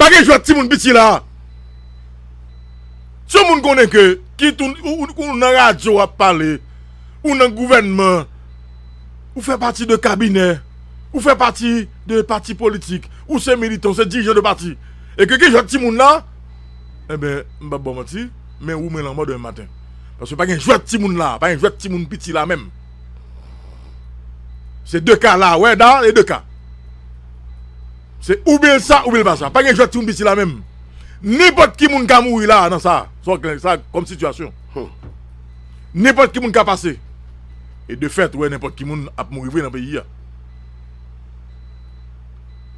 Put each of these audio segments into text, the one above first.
Pa gen jwèt timoun piti la. Si yon moun konnen ke kit ou nan radyo ap pale, ou nan gouvènman, ou fè pati de kabinè, ou fè pati de pati politik, ou se militan, ou se dirijan de pati, e ke gen jwèt timoun la, enben, m pap ba w manti, men ou mwen lanmò demen maten. Paske pa gen jwèt timoun la, pa gen jwèt timoun piti la menm. Se 2 ka la wè da e 2 ka. Se ou byen sa ou byen pa sa. Pa gen jwèt ti moun piti la menm. Nenpòt ki moun ka mouri la nan sa. Sa w sa kòm sitiyasyon. Nenpòt ki moun ka pase. E de fèt wè nenpòt ki moun ap mouri vre nan peyi a.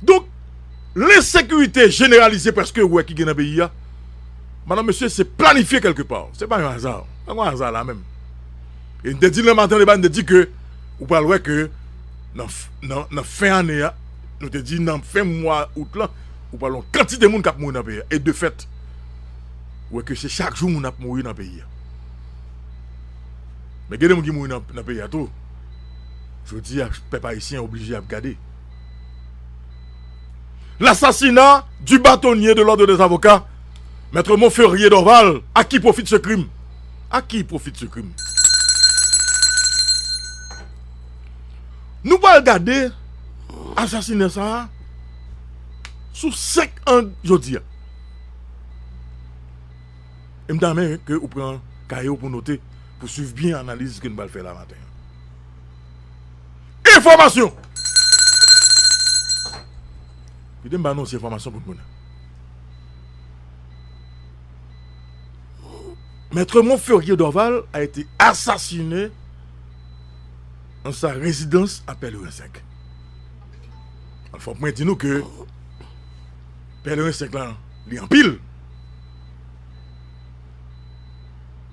Donk lensekirite jeneralize preske wè ki gen nan peyi a. Madan mesye se planifye kèlke pa. Se pa yon aza. Pa gen aza la menm. E n te di l nan maten debat, n te di ke ou pral wè ke nan fen ane a, nou te di nan fen mwa out lan, ou pral wè yon kantite moun k ap mouri nan peyi a. E de fèt, ou wè ke se chak jou moun ap mouri nan peyi a. Men gen de moun ki mouri nan peyi a tou, jodi a pèp ayisyen oblije ap gade. Lasasina di batonye de lòd de zavoka, Mètre Monferrier Dorval, a ki pwofi de se krim? Ak ki pwofit se krim? Nou pral gade asasinè sa a sou 5 ang jodi a. E m ta renmen ke ou pran kaye ou pou note, pou swiv byen analiz ke nou pral fè la maten an. Enfòmasyon! Kite m ba nou yon ti enfòmasyon pou nou konnen. Maitre Monferrier Dorval a ete asasine an sa rezidans a Pèlerin 5. Al fòk mwen di nou ke Pèlerin 5 lan li anpil.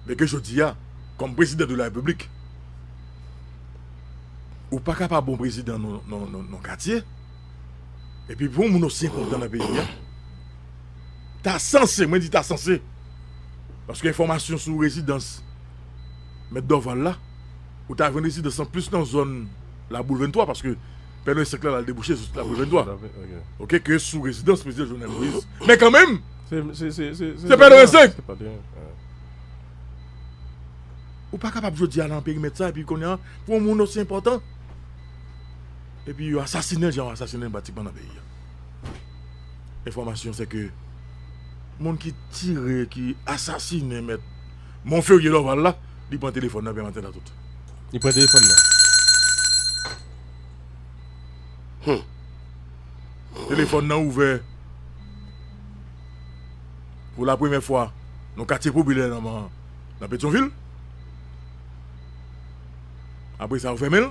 Men ke jodi a, kòm prezidan de la repiblik, ou pa ka pa bon prezidan non katye. Epi pou yon moun osi enkonpetan nan peyi a, ta sanse, mwen di ta sanse, paske enfòmasyon sou rezidans mèt Dorval la, ou ta jwenn rezidans lan plis nan zòn Laboul 23, paske Pè Noye 5 la al debouche sou Laboul 23, oke, ke sou rezidans Prezidan Jovenel Moïse. Men kanmenm, se Pè Noye 5! Ou pa kapab jodi a nan perimèt sa, epi kounye a, pou yon moun osi enpòtan. Epi yo asasinenl jan yo asasinenl pratikman nan peyi a. Enfòmasyon se ke moun ki tire, ki asasinen mèt Monferrier Dorval la, li pran telefòn nan Pè Antèn a tout. Li pran telefòn nan. Humm. Telefòn nan ouvè pou la premyè fwa nan yon katye popilè nan Petyonvil. Apre sa yo fèmenl.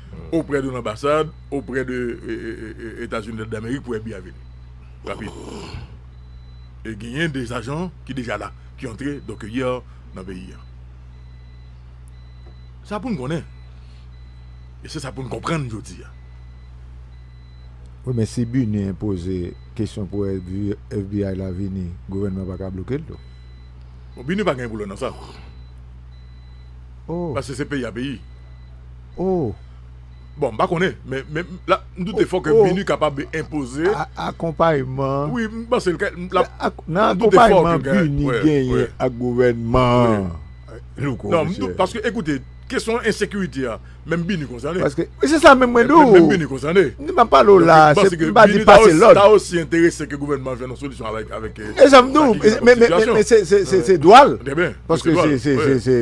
oprè de lanbasad oprè de etazini damerik pou FBI vini rapid e genyen de ajan ki deja la ki antre donk yè nan peyi a sa poun konnen e se sa poun konprann jodi a. Wi men si bini enpoze kesyon pou FBI la vini gouvènman pa ka blokel tou. Bon bini pa gen pou lè nan sa paske se peyi a peyi. Oh. Bon m pa konnen men men la m doute fò ke Binuh kapab enpoze. Akonpayman. Wi m panse l ka lap. Nan akonpayman Binuh genyen ak gouvènman an Louko. Non m doute paske ekoute kesyon ensekirite a menm Binuh konsène. Paske wi se sa menm mwen di w. Menm Binuh konsène. M pa pale w la se m pa di pase lòd. Binuh ta osi enterese ke gouvènman an jwenn yon solisyon avèk avèk. E sa m di w men men men se se se dwa l. Paske se se se se.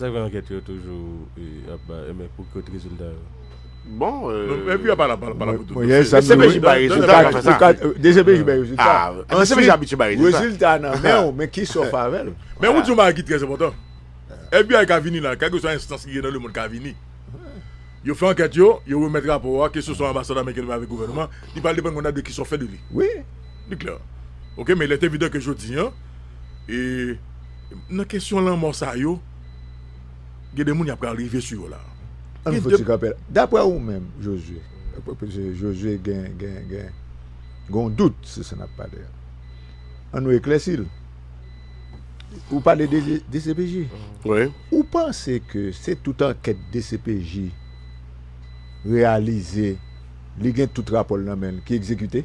Sa fè ankèt yo toujou ap bay pou kot rezilta yo. Bon dcpj bay rezilta nan fè sa dcpj bay rezilta dcpj abitye bay rezilta rezilta nan men ou men kisa ou fè avèl men ou di yon bagay ki trè enpòtan fbi ka vini la kèlkeswa enstans ki gen nan lemond ka vini yo fè ankèt yo yo remèt rapò a keseswa anbasad ameriken avèk gouvènman li pral depann kounya de kisa ou fè de li wi li klè ok men il est evident ke jodi an e. Nan kesyon lanmò sa yo, gen de moun y ap pral rive sou yo la. An nou fouti kanpe la. Daprè ou menm Josué, paske Josué gen yon dout sou sa n ap pale a. An nou eklèsi l. Ou pale de dcpj. Wi. Ou panse ke se tout ankèt dcpj reyalize, li gen tout rapò l nan men l ki egzekite?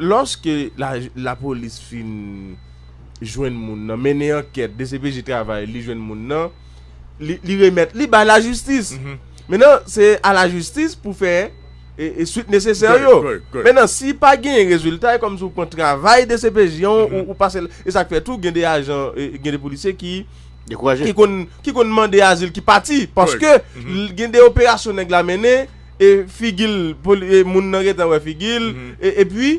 Lòske lapolis fin jwenn moun nan, mennen ankèt, dcpj travay, li jwenn moun nan, li remèt li bay lajistis. Mennen se a lajistis pou fè e swit nesesè yo. Mennen si pa gen rezilta, e kòm si ou pran travay dcpj an, ou pase, e sa k fè tou gen de ajan, gen de polisye ki konn mande azil ki pati, paske gen de operasyon nèg la mennen, e figil moun nan gentan wè figil e epi li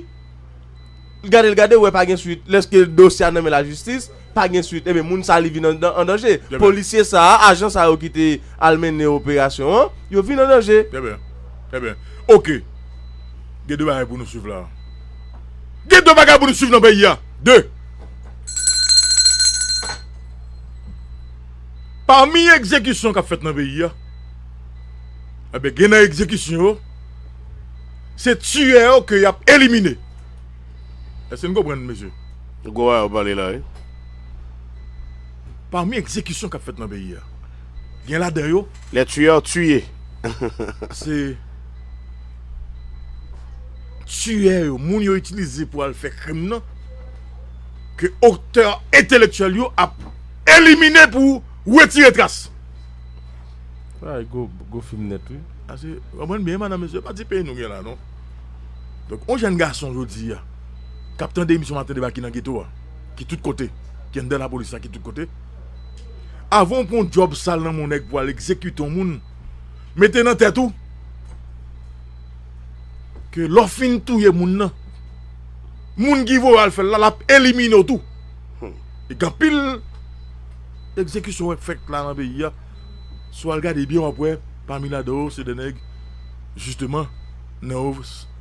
gadel gadel wè pa gen swit lèske dosye a nan men lajistis pa gen swit e men moun sa li vin an danje polisye sa a ajan sa yo ki te al mennen operasyon an yo vin an danje. Trè byen trè byen ok gen de bagay pou nou swiv la gen de bagay pou nou swiv nan peyi a de pami egzekisyon kap fèt nan peyi a. Enben gen nan egzekisyon yo, se tiyè yo ke y ap elimine. Èske n konprann, mesye? Se gwo bagay w ap pale la wi. Pami egzekisyon k ap fèt nan peyi a, gen ladan yo. Les tueurs tués. Se tiyè yo, moun yo itilize pou al fè krim nan, ke otè entelektyèl yo ap elimine pou retire tras. Bagay gwo, gwo fim nèt wi. Ase, konprann byen madanm mesye, se pa ti peyi nou gen la non. Donk yon jèn gason jodi a k ap tande emisyon Maten deba ki nan geto a, ki tout kote, ki anndan lapolis la, ki tout kote, avan ou pran yon djòb sal nan men yon nèg pou al egzekite yon moun, mete nan tèt ou ke lè w fin touye moun nan, moun ki voye w al fè l la, l ap elimine w tou. Gen anpil. Egzekisyon wap fèt la nan peyi a si wal gade byen wap wè pami ladan yo se de nèg jisteman nan yo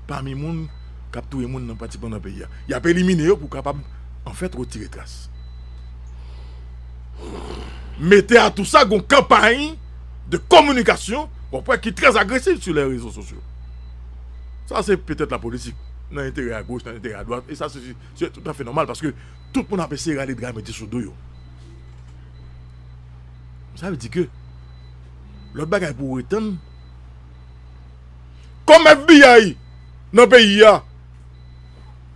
pami moun kap touye moun nan pratikman nan peyi a yap elimine yo pou kapab anfèt retire tras. Mete a tou sa gon kanpay de kominikasyon wap wè ki trè agresiv sou lè rezo sosyo sa se petèt la politik nan enterè a goch nan enterè a dwat e sa se tout afè nòmal paske Tout moun ap eseye rale dra mete sou do yo. Sa vle di ke lòt bagay pou ou etann. Kòm FBI nan peyi a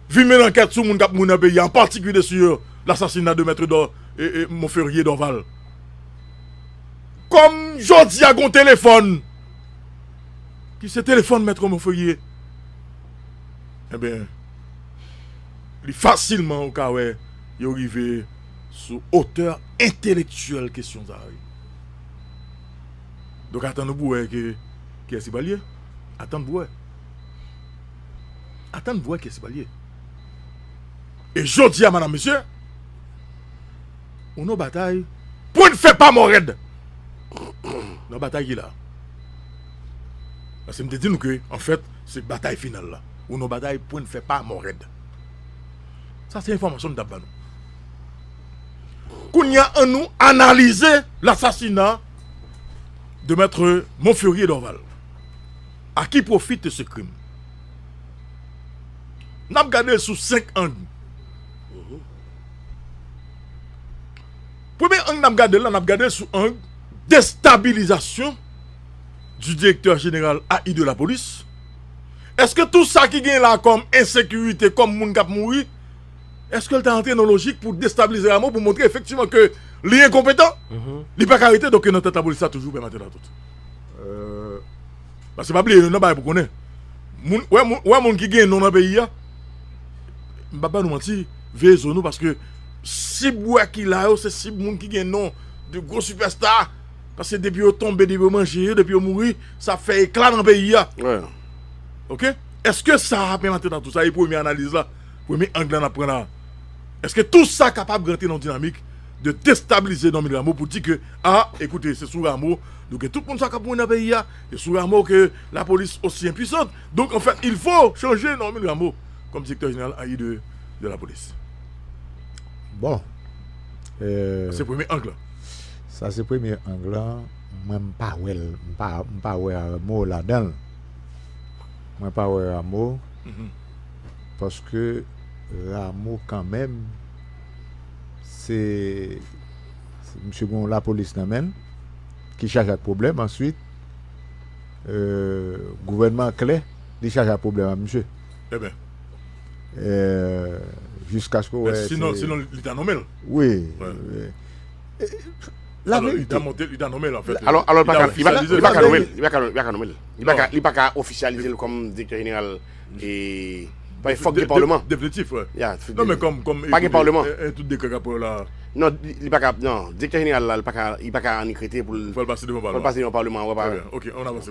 vin mennen ankèt sou moun k ap mouri nan peyi a an patikilye sou lasasina de Maitre Monferrier Dorval. Kòm jodi a gen yon telefòn ki se telefòn Maitre Monferrier. Enben. li fasilman ou ka wè yo rive sou otè entelektyèl kesyon sa a wi. Donk atann ou pou wè ke kiyès li pral ye. Atann pou wè. Atann pou wè kiyès li pral ye. E jodi a madanm mesye, ou nan yon batay pou n fè pa mò rèd. Nan yon batay ki la. Paske m te di nou ke anfèt se batay final la. Ou non bagay pwen fè pa mò rèd. Sa se enfòmasyon m tap ban nou. Kounya an nou analize lasasina de Maitre Monferrier Dorval. A ki pwofi te se krim? Nap gade l sou 5 ang. Premye ang nap gade l la nap gade l sou ang destabilizasyon di direktè jeneral AI de lapolis. Eske tou sa ki gen la kòm ensekirite, kòm moun kap mouri, eske l ta antre nan lojik pou destabilize Rameau pou montre efektivman ke li enkonpetan? Li pa ka rete doke nan tèt lapolis la toujou pè matelatout. Pase pa bliye yon nan bagay pou konnen. Moun, wè moun, wè moun ki gen non nan peyi a, m pap ba nou manti, veye zo nou paske sib wè ki la yo se sib moun ki gen non, de gwo sipèsta. Pase depi yo tonbe, depi yo manje yo, depi yo mouri, Sa ap fè ekla nan peyi a. Ok. Eske sa ap envantre nan tout sa? E premye analiz la, premye ang la nap pran la. Eske tout sa kapab rantre nan yon dinamik de destabilize Normil Rameau pou di ke a, ekoute, se sou Rameau nou gen tout moun sa kap mouri nan peyi a, se sou Rameau ke la polis osi enpuisant. Donk an fèt il fo chanje Normil Rameau kòm direktè jeneral a i de la polis. Bon. Sa se premye ang la. Sa se premye ang la. Mwen m pa wèl m pa m pa wè Rameau ladanl mwen pa wè Rameau paske Rameau kanmenm se misye gen yon lapolis nan menl ki chaje ak pwoblèm answit gouvènman an klè li chaje ak pwoblèm ak misye eben jiskaske ou wè se men sinon sinon li ta nonmel wi. La verite. Alò, li ta nome l an fèt. Alò, li pa ka nome l. Li pa ka nome l. Li pa ka ofisyalize l kòm direktè jeneral. E, paske fòk gen palman. Definitif, wè. Ya. Non, men kòm, kòm. Pa gen palman. E tout dekrè k ap pran la. Non, li pa ka, non. Direktè jeneral la, li pa ka, li pa ka annik rete pou l. Fò l pase devan palman. Fò l pase devan palman, wè pa. Trè byen. Ok, an avanse.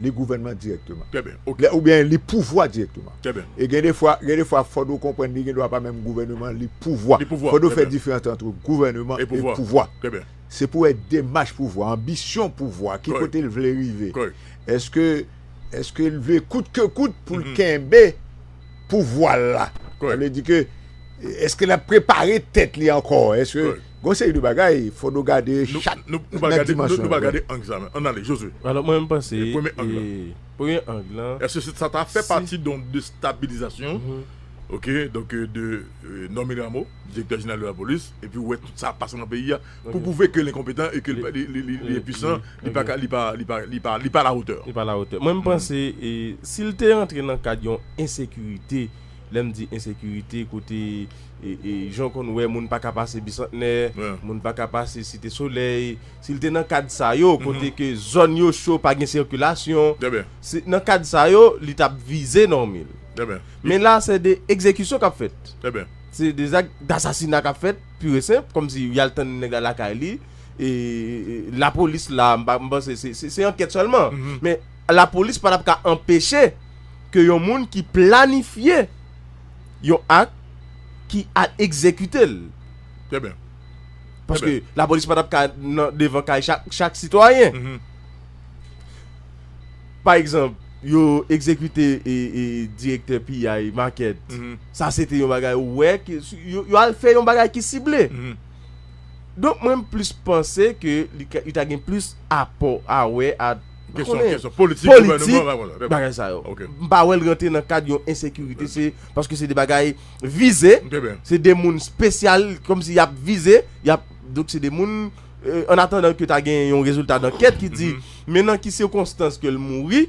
li gouvènman dirèkteman. Trè byen, ok. Lè oubyen li pouvwa dirèkteman. Trè byen. E gen de fwa, gen de fwa fòd ou konprann li gen dwa pa menm gouvèneman, li pouvwa. Li pouvwa, trè byen. Fòd ou fè diferans antre gouvèneman e pouvwa. Trè byen. Se pou wè demach pouvwa, anbisyon pouvwa a, ki kote l vle rive. Kòrèk. Eske, eske l vle kout ke kout pou l kenbe pouvwa l la. Kòrèk. Sa vle di ke, eske l ap prepare tèt li ankò, eske. Kòrèk. Gon seri de bagay fò nou gade chak nan dimansyon yo. Nou pral gade ang sa menm. Ann ale Josué. Alò mwen menm panse premye ang lan. Premye ang lan. Èske sa ta fè pati don destabilizasyon ok donk de Normil Rameau direktè jeneral de lapolis epi ou wè tout sa ap pase nan peyi a pou pwouve ke l enkonpetan e ke li enpisan li pa ka li pa li pa li pa li pa alawotè. Li pa alawotè. Mwen m panse si l te rantre nan kad yon ensekirite lè m di ensekirite kote Jan w konn wè moun pa ka pase Bisantnè, moun pa ka pase Site Solèy, si l te nan kad sa yo, kote ke zòn yo cho, pa gen sikilasyon, se nan kad sa yo li t ap vize Normil. Men la se de egzekisyon k ap fèt. Se de zak dasasina k ap fèt pur e senp, kòm si y al tann nèg la lakay li, e lapolis la, m panse se ankèt sèlman, men lapolis pa t ap ka anpeche ke yon moun ki planifye. yon ak ki al egzekite l. Trè byen. Paske lapolis pa t ap ka nan devan kay chak sitwayen. Pa egzanp, yo egzekite direktè piyay makèt. Sa se te yon bagay ou wè. Yo al fè yon bagay ki sible. Donk mwen m plis panse ke li ta gen plis apò a wè ak. Mwen konnen politik bagay sa yo. Mwen pa wè l rantre nan kad yon ensekirite se paske se de bagay vize, se de moun spesyal kòm si y ap vize, y ap donk se de moun an atandan ke ta gen yon rezilta dankèt ki di men nan ki sikonstans ke l mouri.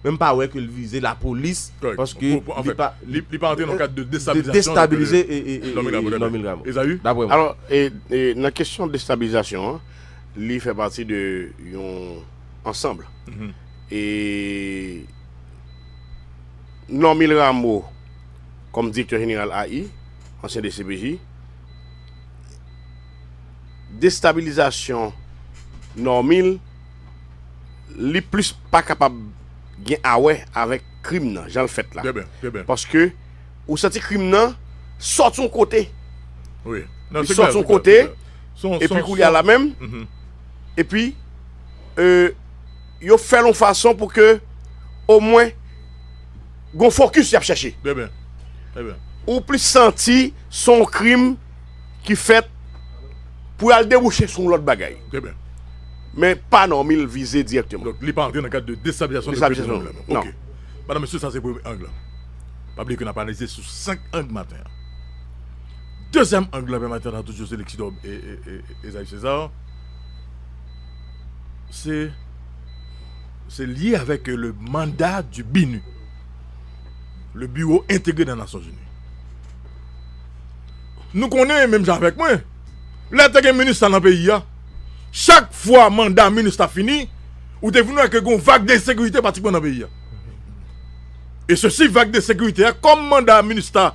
Men mwen pa wè ke l vize lapolis paske li pa antre nan kad de destabilize Normil Rameau. Daprè mwen. Alò nan kesyon destabilizasyon an. Li fè pati de yon ansanb. E Normil Rameau kòm direktè jeneral AI, ansyen dcpj, destabilizasyon Normil li plis pa kapab gen awè avèk krim nan jan l fèt la. Paske ou santi krim nan sòti yon kote. Li sòti yon kote. E pi koulye a la menm, e pi yo fè l yon fason pou ke o mwen gon fokis y ap chèche. Ou plis santi s on krim ki fèt pou y al debouche sou yon lòt bagay. Men pa Normil l vize dirèkteman. Donk li pa antre nan kad de destabilizasyon de pèsonèl la menm. Ok. Madan mesye sa se premye ang lan. Pa bliye ke n ap analize sou 5 ang maten an. Dezyèm ang lan pèmèt antann ant José Lexidor e Esaïe César se lye avèk le manda di BINUH, le Biwo Entegre nan Nasyonzini. Nou konnen menm jan avèk mwen, lè te gen minustah nan peyi a, chak fwa manda minustah fini, ou te vin wè ke gen yon vag de ensekirite patikman nan peyi a. E sosi vag de ensekirite a, kòm manda minustah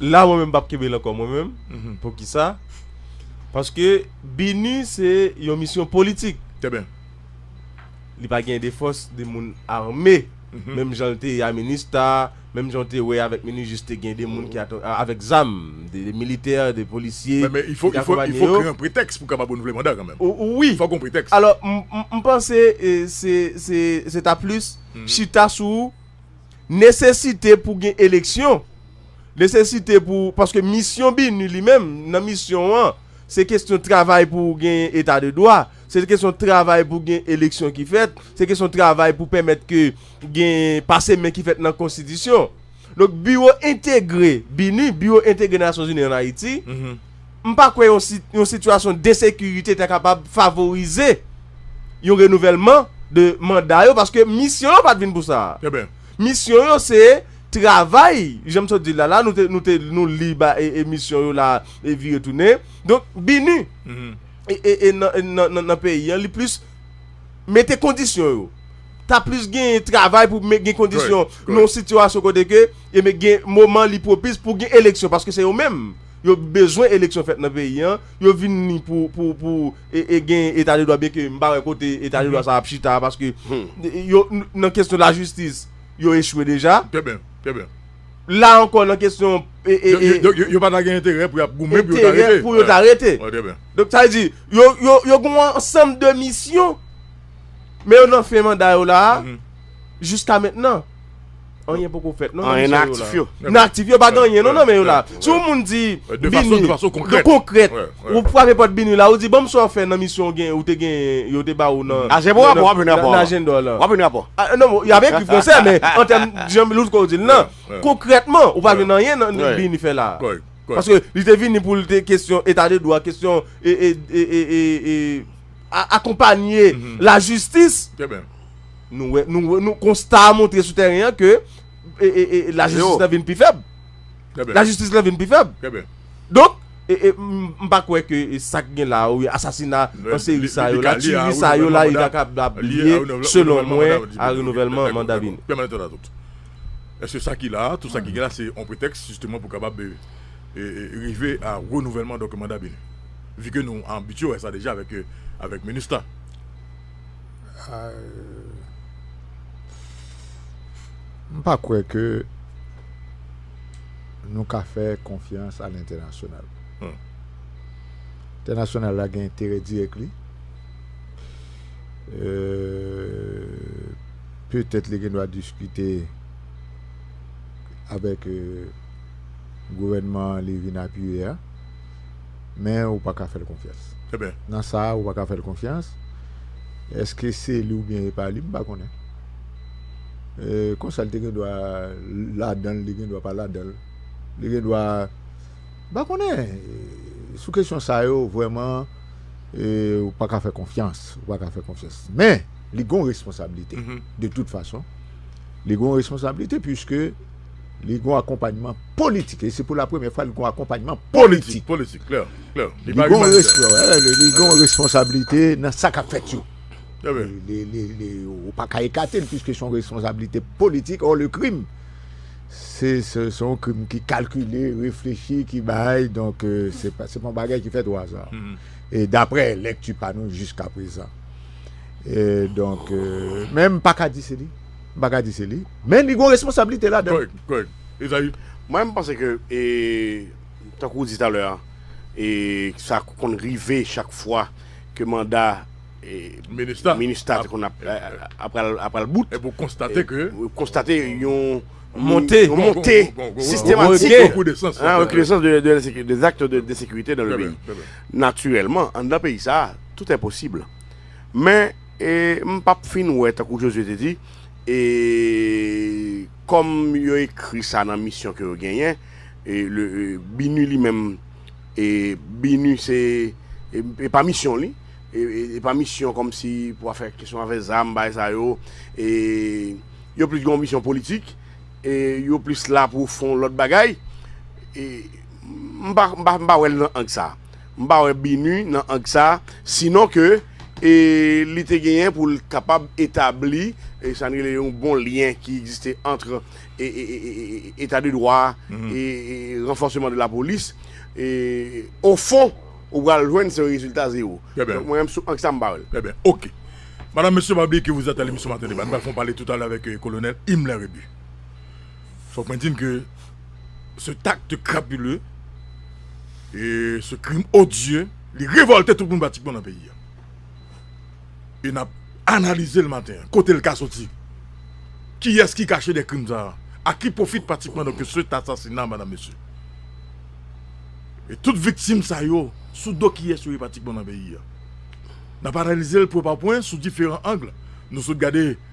La mwen menm pap kenbel ankò mwen menm poukisa paske bini se yon misyon politik li pa gen de fòs de moun arme menm jan l te ye a minista menm jan w te wè avèk minijis te gen de moun ki avèk zam de militè de polisye men men ifo ifo ifo kreye yon pretèks pou kapab renouvle manda kanmenm wi fòk gon pretèks alò m panse se se se ta plis chita sou nesesite pou gen eleksyon. Nesesite pou, paske misyon BINUH li menm, nan misyon an, se kesyon travay pou genyen eta de dwa, se kesyon travay pou gen eleksyon ki fèt, se kesyon travay pou pèmèt ke gen pase men ki fèt nan konstitisyon. Donk biwo entegre BINUH, biwo entegre Nasyonzini an Ayiti, m pa kwè yon sitiyasyon densekirite ta kapab favorize yon renouvèlman de manda yo paske misyon yo pa t vin pou sa a. Misyon yo se. travay janm sot di la la nou te nou te nou li ba e emisyon yo la e vire tounen donk bini e e nan nan nan nan peyi an li plis mete kondisyon yo ta plis genyen travay pou men gen kondisyon nan yon sitiyasyon kote ke e men gen moman li pwopis pou gen eleksyon paske se yo menm yo bezwen eleksyon fèt nan peyi an yo vin ni pou pou pou e e genyen eta de dwa byenke m pa wè kote eta de dwa sa ap chita a paske yo nan kesyon lajistis. yo echwe deja. Trè byen, trè byen. La ankò nan kesyon. Donk yo pa ta gen enterè pou y ap goumen pou yo ta rete. Enterè pou yo ta rete. Bon, trè byen. Donk sa vle di, yo gen yon ansanm de misyon, men yo nan fen manda yo la a, jiska mentnan, anyen poko fèt non nan misyon yo la a. Anyen nan aktif yo. Nan aktif yo pa gen anyen non nan men yo la a. Si yon moun di vini. De fason konkrèt. Konkrèt. Ou frape pòt Binuh la ou di banm sa w fè nan misyon w gen ou te gen yo te ba ou nan Nan Ajenpò rapò wap jwenn rapò nan Ajenpò lan. Wap jwenn rapò. Non bon yap ekri fransè men an tèm jan Loucko w di l lan konkrètman ou pa jwenn anyen nan Binuh fè la a. Paske li te vini pou l te kesyon eta de dwa kesyon e akonpanye lajistis nou wè nou konsta a montre sou tèren an ke lajistis lan vin pi fèb. Lajistis lan vin pi fèb. Donk, m pa kwè ke sa k gen la a, oubyen asasina an seri sa yo la, tiyri sa yo la, yo ta kab ap lye, selon mwen, a renouvèlman manda vini. Èske sa ki la a, tout sa ki gen la, se yon pretèks jisteman pou kapab rive a renouvèlman manda vini? Vike nou abitye wè sa deja avèk minustah. M pa kwè ke nou ka fè konfyans a lentènasyonal. Entènasyonal la gen enterè dirèk li. Petèt li gen dwa diskite avèk gouvènman li vin apiye a. men ou pa ka fè l konfyans. Eben. Nan sa a, ou pa ka fè l konfyans. Èske se li oubyen e pa li, m pa konnen. E konsa li te gendwa ladan l, li gendwa pa ladan l. Li gendwa, m pa konnen. Sou kesyon sa yo, vrèman, e ou pa ka fè konfyans. Ou pa ka fè konfyans. Men, li gen yon responsablite. De tout fason, li gen yon responsablite piske. Li gon akonpanyman politik. E se pou la premye fwa li gon akonpanyman politik. Politik, klè, klè. Li pa imanitè. Li gon responsabilite nan sa kap fèt yo. Trè byen. Li, ou pa ka ekate l piske son responsabilite politik. Or le krim, se son krim ki kalkile, reflechi, ki bay. Donk, se pa yon bagay ki fèt o aza. E daprè lèkti pa nou jiska prezan. E donk, men m pa ka di se li. M pa ka di se li. Men li gon responsablite ladan. Kòrèk, kòrèk. Ezayi? Mwen m panse ke tankou ou di talè a, sa konn rive chak fwa ke manda minustah te konn ap pral bout. Epi ou konstate ke. Ou konstate yon. Monte. Yon monte sistematik. Yon rekinesans. Yon rekinesans de zakt de ensekirite nan le peyi. Trè byen, trè byen. Natirèlman, anndan peyi sa, tout è posib. Men. E m p ap fin wè, tankou Jozye te di, e kòm yo ekri sa nan misyon ke yo genyen, e le Binu li menm, e Binu se, e pa misyon li, e pa misyon kòm si pou w ap fè kesyon avè zam, bagay sa yo, e yo plis gen yon misyon politik, e yo plis la pou fon lòt bagay, e m pa wè l nan ang sa. M pa wè bi nu nan ang sa sinon ke e li te genyen pou l kapab etabli e sa n rele yon bon lyen ki egziste antre e eta de dwa e ranfòseman de lapolis e o fon ou pral jwenn se yon rezilta zewo. Donk mwen menm sou ang sa m pa wè l. Trè byen. Ok. Madam, Mesye, pa bliye ke vous êtes à l'émission Matin Débat. Nou pral fè yon pale toutalè avèk Kolonèl Himmler Rébu. Fok mwen di n ke cet acte crapuleux e ce crime odieux li revolte tout moun pratikman nan peyi a. E n ap analize l maten an, kote l ka soti, kiyès ki kache dèyè krim sa a, a ki pwofit pratikman donk cet assassinat madam mesye. E tout viktim sa yo sou do kiyès yo ye pratikman nan peyi a. N ap analize l pwen pa pwen sou diferan angle. Nou sot gade.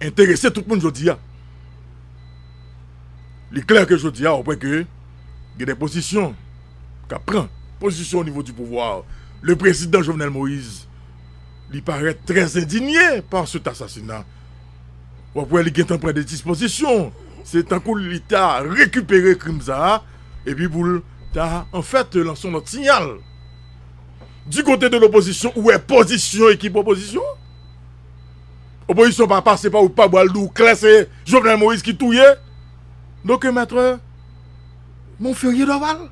enterese tout moun jodi a. Li klè ke jodi a ou pwè ke gen de pozisyon kap pran pozisyon o nivo di pouvwa. Le prezidan Jovenel Moïse li parèt trè endinye pa set asasina. Wap wè li gentan pran de dispozisyon. Se tankou li ta rekipere krim sa a epi pou l ta an fèt lanse yon lòt siyal. Di kote de lopozisyon ou wè pozisyon ekip opozisyon. Opozisyon pa pase pa wout pa bwa l di w klè se Jovenel Moïse ki touye Doktè Maitre Monferrier Dorval.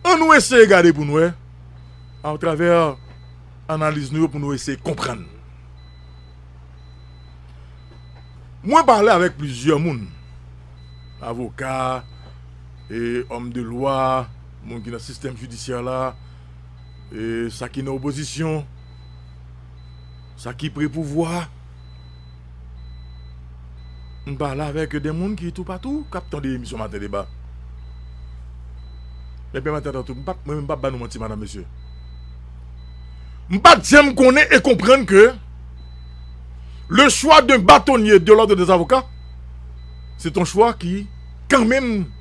An nou eseye gade pou n wè a travè analiz nou yo pou nou eseye konprann. Mwen pale avèk plizyè moun, avoka, e òm de lwa, moun ki nan sistèm jidisyè la, e sa ki nan opozisyon. Sa ki pre pouvwa a. M pale avèk de moun ki toupatou k ap tande emisyon Maten deba. Mwen pèmèt antan tout, mwen menm m pap ba nou manti madanm mesye. M pa t janm konnen e konprann ke le chwa de batonye de lòd de zavoka se t on chwa ki kanmenm.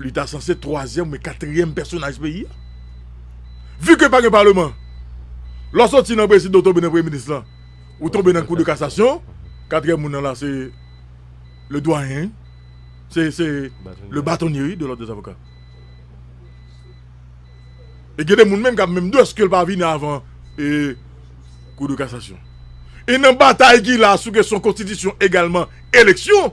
Li ta sanse twazyèm oubyen katriyèm pèsonaj peyi a. Vu ke pa gen paleman, lè w soti nan prezidan ou tonbe nan premye minis lan, ou tonbe nan kou de kasasyon, katriyèm moun nan la se le dwayen, se le batonye wi de lòd dezavoka. E gen de moun menm k ap menm dou eske l pa vini avan kou de kasasyon. E nan batay ki la sou kesyon konstitisyon egalman eleksyon.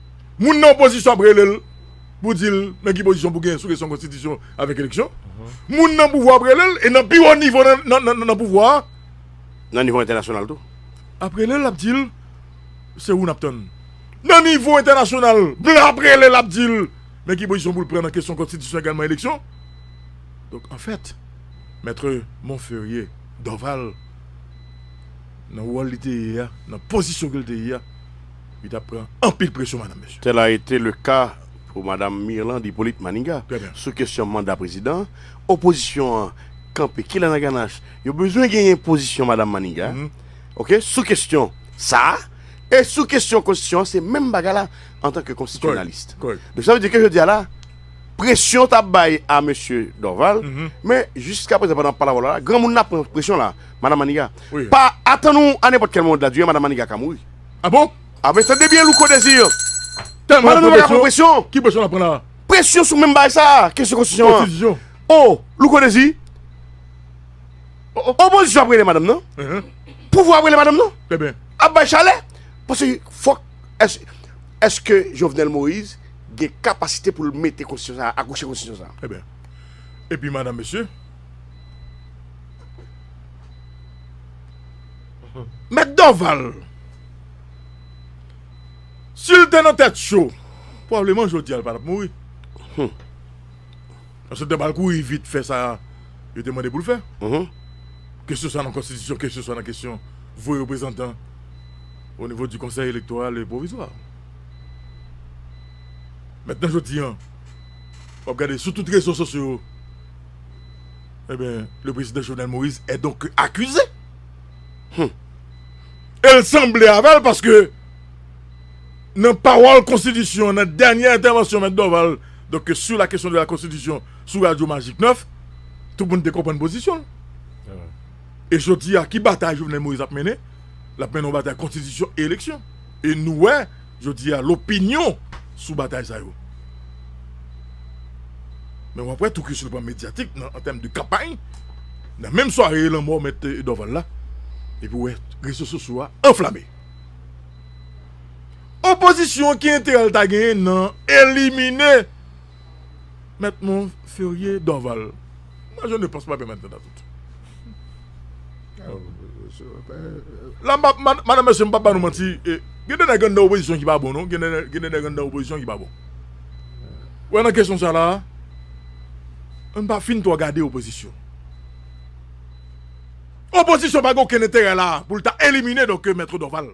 Moun nan opozisyon ap rele l pou di l nan ki pozisyon pou gen sou kesyon konstitisyon avèk eleksyon. Moun nan pouvwa ap rele l e nan pi wo nivo nan pouvwa a. Nan nivo entènasyonal tou. Ap rele l ap di l se ou n ap tann. Nan nivo entènasyonal blan ap rele l ap di l men ki pozisyon pou l pran nan kesyon konstitisyon egalman eleksyon. Donk anfèt Maitre Monferrier Dorval nan wòl li te ye a, nan pozisyon ke l te ye a, Li tap pran anpil presyon madanm mesye. Tel a ete le ka pou madam Mirlande Hyppolite Maniga sou kesyon manda prezidan, opozisyon an kanpe kilè nan ganach yo bezwen genyen pozisyon madam Maniga ok sou kesyon sa a e sou kesyon konstitisyon an se menm bagay la antan ke konstitisyonalist donk sa vle di ke jodi a la presyon tap bay a mesye Dorval men jiska prezan pandan wap pale avèw la granmoun nan ap pran presyon la madam Maniga pa atann ou a nenpòt kèl moman de la durée madam Maniga ka mouri. Ah bon? Ah men tande byen Louko Désir! Tèlman nou pa ka pran presyon! Ki presyon nap pran la? Presyon sou menm bagay sa a, kesyon konstitisyon an. Konstitisyon. Oh! Louko Désir! Opozisyon ap rele madanm nan, pouvwa ap rele madanm nan. Trè byen. Ap bay chalè. Paske fòk Eske Jovenel Moïse gen kapasite pou l mete konstitisyon sa a, akouche konstitisyon sa a? Trè byen. Epi madan mesye. Mèt Dorval, si l te nan tèt cho, pwableman jodi a l pa t ap mouri. Paske l te pral kouri vit fè sa yo te mande pou l fè. Ke se swa nan konstitisyon, ke se swa nan kesyon voye reprezantan o nivo di konsèy elektoral e pwovizwa. Mètnan jodi a, w ap gade sou tout rezo sosyo yo. Ebyen le prezidan Jovenel Moïse est donc accusé. Hum. El sanble avèl paske nan pawòl konstitisyon nan dènyè entèvansyon mèt Dorval donc sur la question de la constitution sou radio magic 9 tout moun te konprann pozisyonl. E jodia ki batay Jovenel Moïse ap mennen? Lap mennen yon batay konstitisyon e eleksyon. E nou wè. Jodi a lopinyon sou batay sa yo. Men wap wè tou ke sou le plan medyatik nan an tèm de kanpay nan menm sware lanmò mèt Dorval la epi wè rezo sosyo a anflame. Opozisyon ki enterè l ta genyen nan elimine mèt Monferrier Dorval. Moi je ne pense pas bien maintenant dans tout. La madame mesye m pap ba nou manti gen de nèg anndan opozisyon ki pa bon non gen de nèg anndan opozisyon ki pa bon ou wè nan kesyon sa la ann pa fin twò gade opozisyon opozisyon pa gen okenn enterè la pou l ta elimine donkè mètr Dorval.